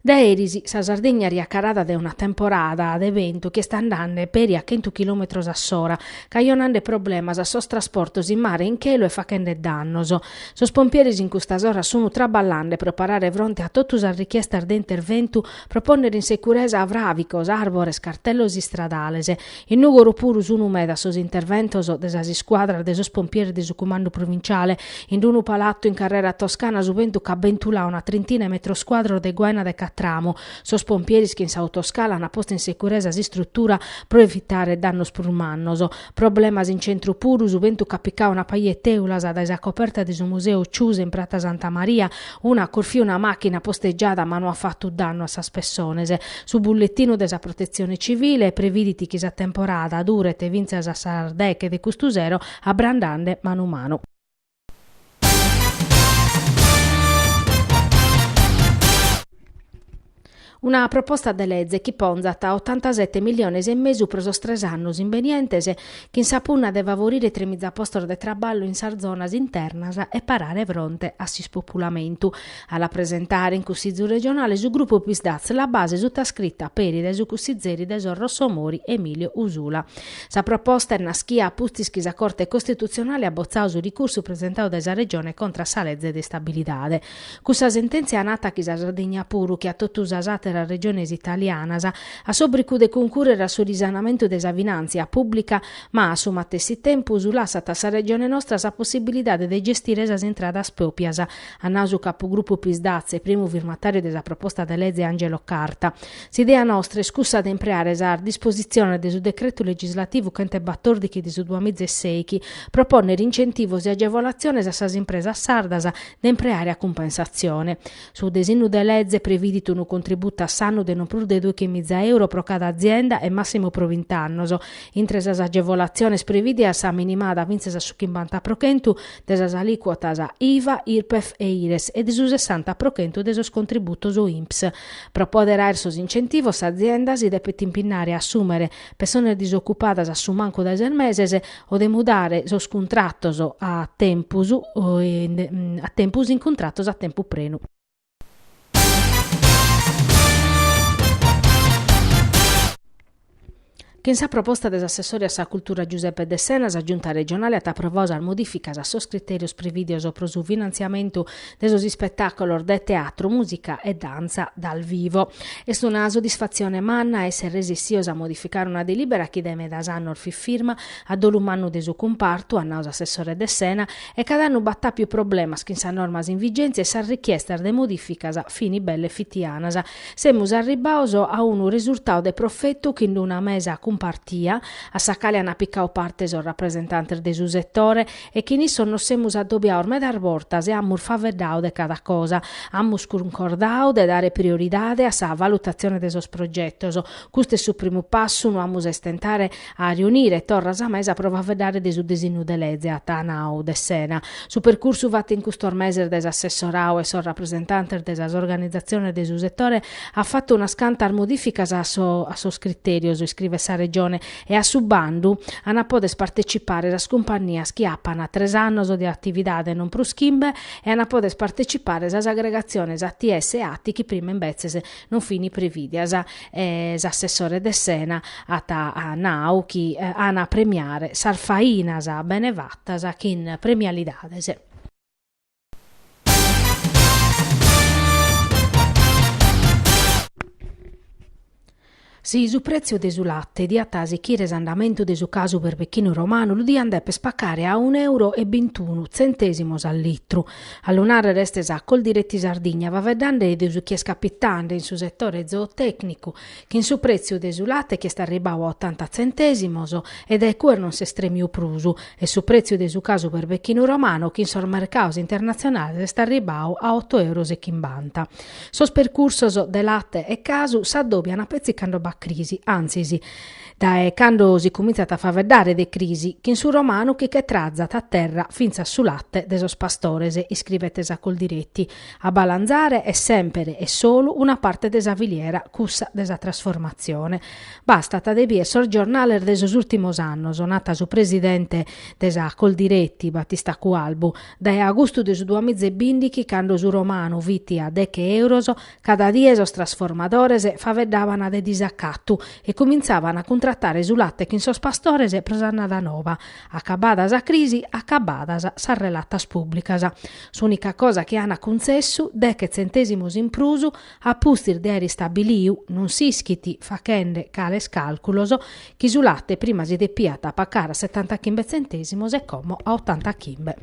Dae eris sa Sardigna est jacarada dae una temporada de bentu chi est andende peri a chentu chilòmetros a s'ora, cajonende problemas a sos trasportos in mare e in chelu e faghende dannos. Sos pompieris in custas oras sun traballende pro parare fronte a totu sas richiestas de interventu pro pònnere in securesa fràvicos, àrbores, cartellos istradales. In Nùgoro puru sunu medas sos interventos de sas iscuadras de sos pompieris de su Cumandu Provinciale. In unu palatu in Carrera Toscana su bentu ch'at bentuladu una trintina 'e metros cuadros de guaina de catramu. Sos pompieris chin s'autoscala ant postu in securesa s'istrutura pro evitare dannos prus mannos. Problemas in centru puru su bentu ch'at picadu una paja 'e tèulas dae sa coperta de su Museu Ciusa in Prata Santa Maria, Una at corfiu una màchina postegiada ma no at fatu dannu a sas pessones. Su bulletinu de sa Protetzione Civile previdit chi sa temporada duret fintzas a sas deghe de custu sero abrandende manu manu. Una proposta de lege chi ponzat otantasete milliones e mesu pro sos tres annos imbenientes chin sa punna de favorire tremiza postos de traballu in sas zonas internas e parare fronte a s'ispopulamentu. A la presentare in Cussizu Regionale su grupu Psd'Az La Base sutascrita peri dae su cussizeri de sos Rossomori Emilio Usula. Sa proposta est naschia a pustis chi sa Corte Costitutzionale at botzadu su ricursu presentadu dae sa Regione contra a sa lege de istabilidade. Cussa sentèntzia nat chi sa Sardigna puru che a totu sas àteras regiones italianas, at s'òbricu de cuncùrrere a su risanamentu de sa finàntzia pùblica, ma a su matessi tempus lassat a sa Regione nostra sa possibilidade de gestire sas intradas pròpias, at nau su capugrupu Psd'Az e primu firmatàriu de sa proposta de lege Angelo Carta. S'idea nostra est cussa de impreare sas dispositziones de su Decretu legislativu chent'e batòrdighi de su duamiza e sèichi pro pònnere incentivos e agevolatziones a sas impresas sardas de impreare a cumpensatzione. Su desinnu de leze previdit unu contributu a s'annu de non prus de dòichi miza euro pro cada azienda e màssimu pro bint'annos. Intre sas agevolatziones previdias sa minimada fintzas a su chimbanta pro chentu de sas alìcuotas IVA, Irpef e Ires e de su sessanta pro chentu de sos contributos INPS. Pro pòdere àere sos incentivos s'azienda si depet impinnare a assùmere, persones disocupadas a su mancu dae ses meses o de mudare sos cuntratos a tempus a tempus in cuntratos a tempu prenu. Chin sa proposta de s'assessore a sa cultura Giuseppe Dessena sa Giunta regionale at aprovadu sas modificas a sos criterios prevìdios pro su finantziamentu de sos ispetàculos de teatru, mùsica e dantza dal vivo. Est una soddisfatzione manna èssere resissios a modificare una delìbera chi dae medas annos fit firma a dolu mannu de su cumpartu, at nau s'assessore Dessena, e cada annu b'at àpiu problemas chin sas normas in vigèntzia e sas richiestas de modificas fin belle fitianas. Semus arribbados a unu resurtadu de profetu chin d'una mesa cumpartia, a sa cale an picau parte sos rapresentantes de su setore, e chin issos nos semus adobiados medas bortas e amus faeddadu de cada cosa, amus cuncordadu de dare prioridade a sa valutatzione de sos progetos, custu est su primu passu, no amus a istentare a riunire torra sa mesa pro faeddare de su disinnu de leze, at nadu Dessena. Su percursu fatu in custos meses dae s'assessoradu e sos rapresentantes de sas organizatziones de su setore at fatu unas cantas modificas a sos critèrios, iscrivet sa Regione, e a su bandu an a poder partecipare sas cumpannias chi apan tres annos de atividade e non prus chimbe e an a poder partecipare sas agregatziones ATS e ATI chi prima imbetzes non fin prevìdias e s'assessore Dessena at nau chi an a premiare sas fainas bene fatas chin premialidades. Si su prètziu de su late diat sichire s'andamentu de su casu berbechinu romanu lu diant dèpere pacare a unu euro e bintunu tzentèsimos a litru. A lu nàrrere est sa Coldiretti Sardigna, faeddande de su chi est capitande in su setore zootècnicu chin su prètziu de su late chi est arribau a otanta tzentèsimos e dae cue non s'est tremiu prus, e su prètziu de su casu berbechinu romanu chi in sos mercaus internatzionales est arribau a oto euros e chimbanta. Sos percursos de late e casu s'addòbian petzi cando b'at crisi, antzis, dae cando si cumintzat a faeddare de crisi, chin su romanu chi che trazat a terra fintzas su late de sos pastores, iscribet sa Coldiretti, A balanzare est sèmpere e solu una parte de sa filiera, cussa de sa trasformatzione. Bastat de bier sos giornales de sos ùrtimos annos, nat su presidente de sa Coldiretti, Battista Cualbu, dae agustu de su duamiza e bìndichi cando su romanu fit a deche èuros cada die sos trasformadores faeddaban de disacatu e cumintzàban a cuntratare su late chin sos pastores pro s'annada nova. Acabada sa crisi, acabadas sas relatas pùblicas. S'ùnica cosa chi ant cuntzessu, deche tzentèsimos in prus, a pustis de àere istabiliu, non s'ischit, fachende cales càlculos, chi su late prima si depiat pacare a setantachimbe tzentèsimos e como a otantachimbe.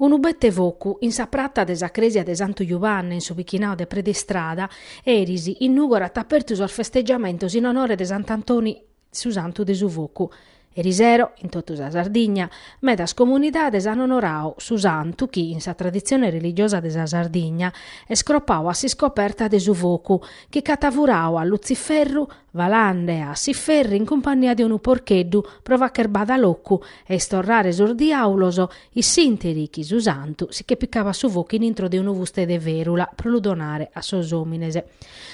Unu bete focu in sa prata de sa crèsia de Santu Jubanne in su bichinau de Predestrada, eris, in Nùgoro at apertu sos festeggiamentos in onore de Sant'Antoni su Santu de su Focu. Erisero, in totu sa Sardigna, medas comunidades an onoradu su Santu chi, in sa traditzione religiosa de sa Sardigna, est cropadu a s'iscoperta de su Focu, chi ch'at furadu a Lutziferru, falande a s'iferru in cumpannia de unu porcheddu pro facher bada locu e istorrare sos diàulos In s'interi chi su santu si che picabat su focu in intro de unu fuste de ferula pro lu donare a sos omines.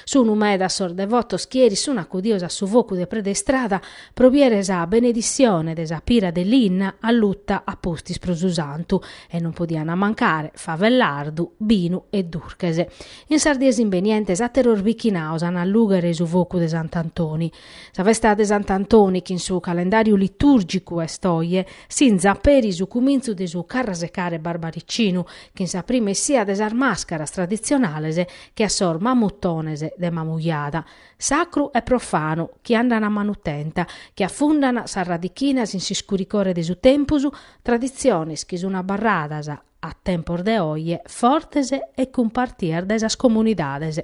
Sunu medas sos devotos chi eris sun acudios a su focu de Preda Istrada pro biere sa benedissione de sa pira de linna alluta a pustis pro su santu e non podiana mancare fava e lardu, binu e durches. In sas dies imbenientes atteros bichinaos an a allughere su focu de sant'Antoni. Sa festa de Sant'Antoni chi in su calendàriu litùrgicu est oje, sinzat peri su cumintzu de su carrasecare barbaricinu, chin sa prima essia de sas màscaras traditzionales che a sos mamutones de Mamujada, sacru e profanu, chi andan a manutenta, chi afundan sas radichinas in s'iscuricore de su tempus, traditziones chi sun abarradas, a tempos de oje, fortes e cumpartias dae sas comunidades.